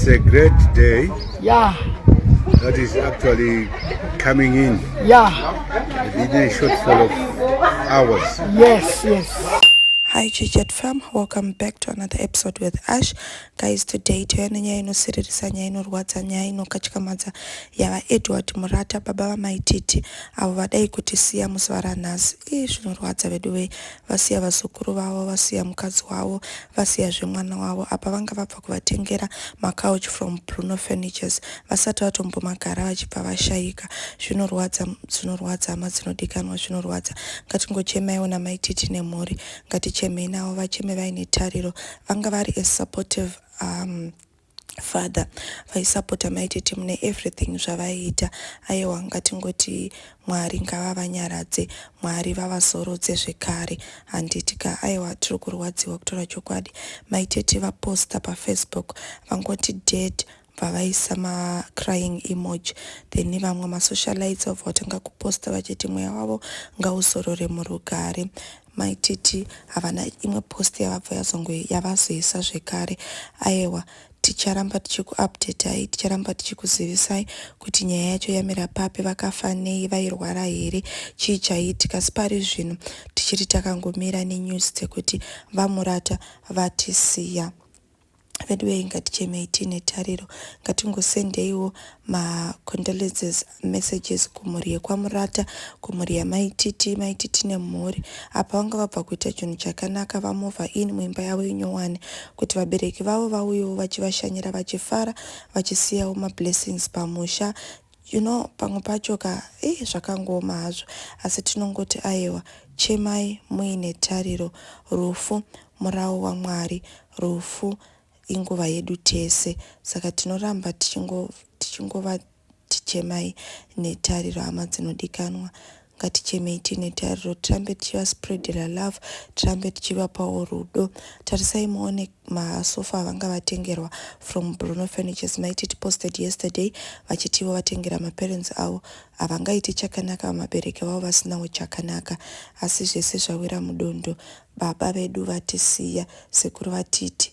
It's a great day. Yeah. That is actually coming in. Yeah. Within a short fall of hours. Yes, yes. Hi Chichet fam, welcome back to another episode with Ash. Guys, today tauya nenyaya inosiririsa, nyaya inorwadza, nyaya inokatyamadza yava Edward Murata, baba vamaititi avo vadai kuti siya musi varanhasi. Ii zvinorwadza veduwei, vasiya vazukuru vavo, vasiya mukadzi wavo, vasiya zvemwana wavo. Apa vanga vabva vakatanga kuvatengera macouch from Bruno Furnitures vasati vatombomagara vachibva vashaika. Zvinorwadza, zvinorwadza hama dzinodikanwa, zvinorwadza. Ngatingochemaiwo namai Titi nemhuri, ngatichemei navo vacheme vaine tariro. Vanga vari a supportive um, father vaisapota maititi mune everything zvavaiita aiwa ngatingoti Mwari ngavavanyaradze Mwari vavazorodze zvekare handiti ka aiwa tiri kurwadziwa kutaura chokwadi mai tete vaposter pa Facebook vangoti dead bva vaisa ma crying emoji then vamwe ma socialites vabva vatanga kuposter vachiti mweya wavo ngauzorore murugare Mai Titi havana imwe post yavabva yazongo yavazoisa zvekare ayewa ticharamba tichiku updatai ticharamba tichikuzivisai kuti nyaya yacho yamira papi vakafa nei vairwara here chii chaiitika asi pari zvino tichiri takangomira nenews dzekuti VaMurata vatisiya veduwei ngatichemei tiine tariro ngatingosendeiwo macondolences messages kumhuri yekwamurata kumhuri yamaititi maititi nemhuri apa vanga vabva kuita chinhu chakanaka vamova in muimba yavo inyowani kuti vabereki vavo vauyewo vachivashanyira vachifara vachisiyawo mablessings pamusha You know pamwe pacho ka eh zvakangooma hazvo asi tinongoti ayewa chemai muine tariro rufu murawo waMwari rufu inguva yedu tese saka tinoramba tichingova tichingo tichemai netariro hama dzinodikanwa ngatichemei tiine tariro tirambe tichivaspreadera love tirambe tichivapawo rudo tarisai muone masofa avanga vatengerwa from bruno furnitures maiti tiposted yesterday vachitivo vatengera maparents avo havangaite chakanaka vamabereki vavo vasinawo chakanaka asi zvese zvawira mudondo baba vedu vatisiya sekuru vatiti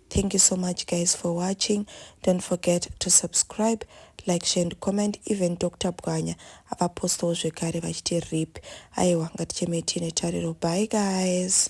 Thank you so much guys for watching. Don't forget to subscribe, like, share and comment. Even Dr. Bwanya avapostawo zvekare vachiti rip. Aiwa ngatichemei tiine tariro. Bye guys.